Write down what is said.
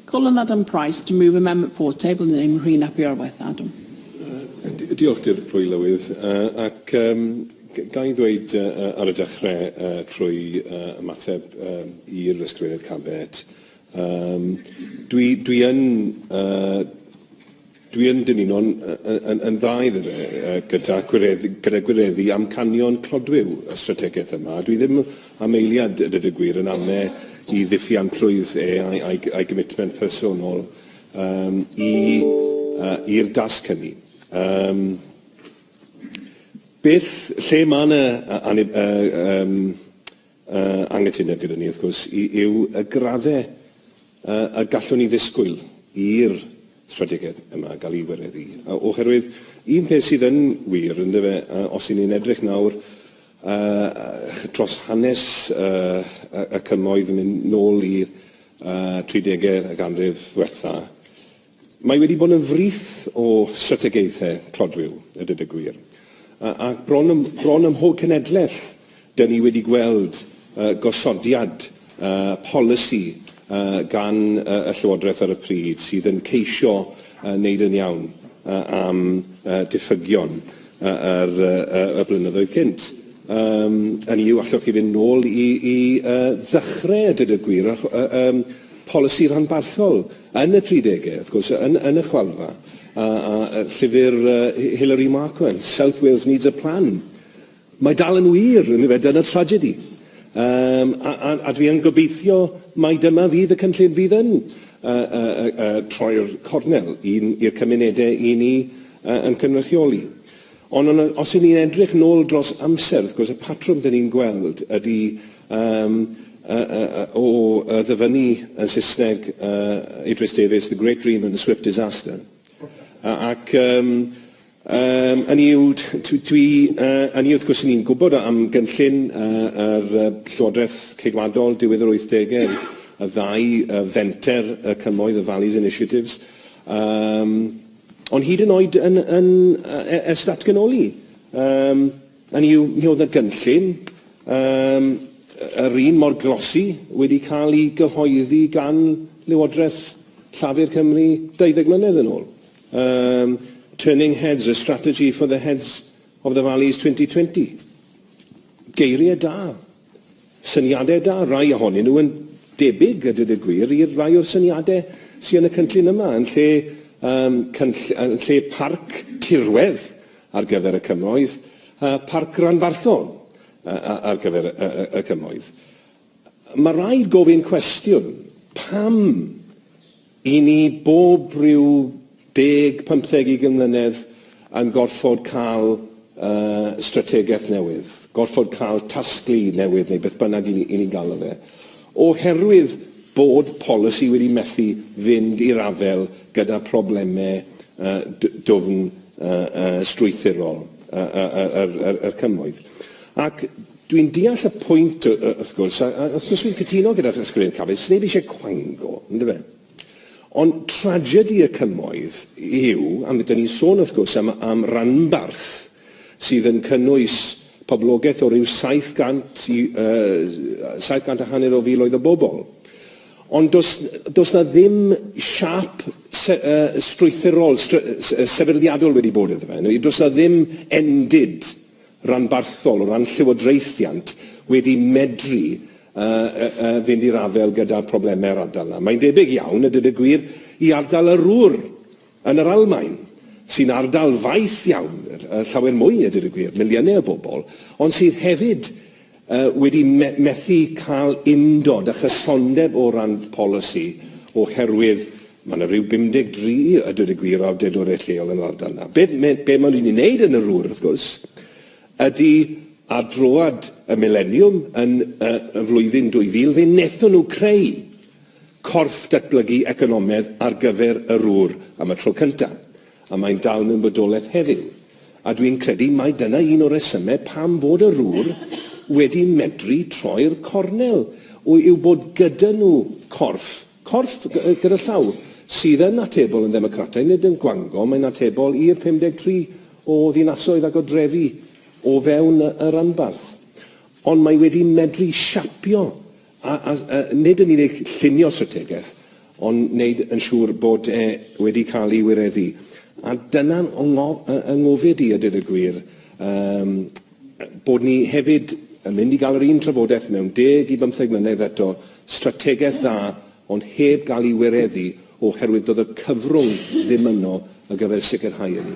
Call on Adam Price to move amendment four tabled in name Rhun ap Iorwerth. Adam. Diolch, Dirprwy Lywydd, ac ga i ddweud ar y dechrau, trwy ymateb i'r Ysgrifennydd Cabinet, dwi yn Dwi yn dymuno'n yn yn dda iddo fe yy gynta gwireddu gyda gwireddu amcanion clodwiw y strategaeth yma. Dwi ddim am eiliad a dweud y gwir yn ame' i ddiffiantrwydd e a'i a'i a'i gymitment personol yym i yy i'r dasg hynny. Yym beth lle ma' 'na yy anib- yy yym Yy, anghytuno gyda ni, wrth gwrs, y- yw y gradde y- y gallwn ni ddisgwyl i'r strategaeth yma gael ei wireddu. O- oherwydd, un peth sydd yn wir, yndyfe, y- os y'n ni'n edrych nawr y- y- dros hanes y- y- y Cymoedd yn mynd nôl i'r y- tridegau y ganrif ddwetha, Mae wedi bod yn frith o strategaethau clodwiw, a dweud y gwir. A, a bron, ym, bron ym mhob cenedlaeth, dyn ni wedi gweld uh, gosodiad uh, polisi uh, gan uh, y Llywodraeth ar y pryd sydd yn ceisio uh, wneud yn iawn uh, am uh, diffygion uh, yr, uh, y blynyddoedd cynt. Um, yn yw, allwch chi fynd nôl i, i uh, ddechrau, a dweud y gwir, uh, um, polisi rhanbarthol Yn y tridegau, wrth gwrs, yn, yn y chwalfa, a, a llyfr uh, Hilary Markman, South Wales Needs a Plan, mae dal yn wir, yn fe, dyna tragedy. Um, a, a, a dwi yn gobeithio mai dyma fydd y cynllun fydd yn uh, uh, uh, uh, troi'r cornel i'r cymunedau i ni uh, yn cynrychioli. Ond ond yy os 'yn ni'n edrych nôl dros amser wrth gwrs y patrwm 'dyn ni'n gweld ydi yym yy yy yy o yy ddyfynnu yn Sysneg yy Idris Davies the great dream and the swift disaster a ac yym yym ynny yw t- t- dwi yy ynny yw wrth gwrs 'yn ni'n gwbod yy am gynllun yy yr yy Llywodreth Ceidwadol diwedd yr wythdege y ddau yy fenter y cymoedd y valleys initiatives yym Ond hyd yn oed yn, yn, er, ers datganoli, um, yn yw, mi oedd y gynllun um, yr un mor glosi wedi cael ei gyhoeddi gan Lywodraeth Llafur Cymru 20 mlynedd yn ôl. Um, Turning Heads, a Strategy for the Heads of the Valleys 2020. Geiriau da. Syniadau da, rai ohonyn nhw yn debyg, a dweud y gwir, i'r rhai o'r syniadau sy yn y cynllun yma, yn lle yym cynll- yn lle parc tirwedd ar gyfer y cymoedd, yy parc ranbarthol yy yy ar gyfer y y y cymoedd. Mae rhaid gofyn cwestiwn, pam I ni bob rhyw deg, pymtheg, ugain mlynedd yn gorfod cael strategaeth newydd, gorfod cael tasglu newydd neu beth bynnag i ni'n galw fe, oherwydd bod polisi wedi methu fynd i'r afael gyda problemau dwfn strwythurol y Cymoedd. Ac Dwi'n deall y pwynt, wrth gwrs, a wrth gwrs dwi'n cytuno gyda Ysgrifennydd Cabinet, sneb eisiau cwango, yndyfe? Ond tragedi y cymoedd yw, a mi ydyn ni'n sôn wrth gwrs am, am ranbarth sydd yn cynnwys poblogaeth o ryw 700 i uh, 700 a hanner o filoedd o bobl. Ond does, does na ddim siap se, uh, strwythurol, stry, sefydliadol wedi bod iddo fe. Does na ddim endid ranbarthol o ran llywodraethiant wedi medru fynd i'r afael gyda'r problemau'r ardal 'na. Mae'n debyg iawn, a dweud y gwir, i ardal y Ruhr yn yr Almaen, sy'n ardal faith iawn, llawer mwy, a dweud y gwir, miliynau o bobl, ond sydd hefyd wedi methu cael undod a chysondeb o ran polisi oherwydd Mae yna ryw 53, a dweud y gwir, o awdurdodau lleol yn yr ardal yna. Be, me, be maen nhw wedi wneud yn yr ŵr, wrth gwrs, ydy ar droad y mileniwm yn y, y flwyddyn 2000, fe wnaethon nhw creu corff datblygu economedd ar gyfer yr ŵr am y tro cyntaf, a mae'n dal mewn bodolaeth heddiw. A dwi'n credu mai dyna un o'r resymau pam fod yr ŵr wedi medru troi'r cornel, yw bod gyda nhw corff Corff gyda llaw, sydd yn atebol yn ddemocrataidd, nid yn gwangom, mae'n atebol i'r 53 o ddinasoedd ac o drefi o fewn y ranbarth. Ond mae wedi medru siapio a, a, a nid yn unig llunio strategaeth, ond wneud yn siŵr bod e wedi cael ei wireddu. A dyna fy ngofid i, a dweud y gwir, um, bod ni hefyd yn mynd i gael yr un trafodaeth mewn deg i bymtheg mlynedd eto, strategaeth dda ond heb gael ei wireddu oherwydd doedd y cyfrwng ddim yno ar gyfer sicrhau hynny.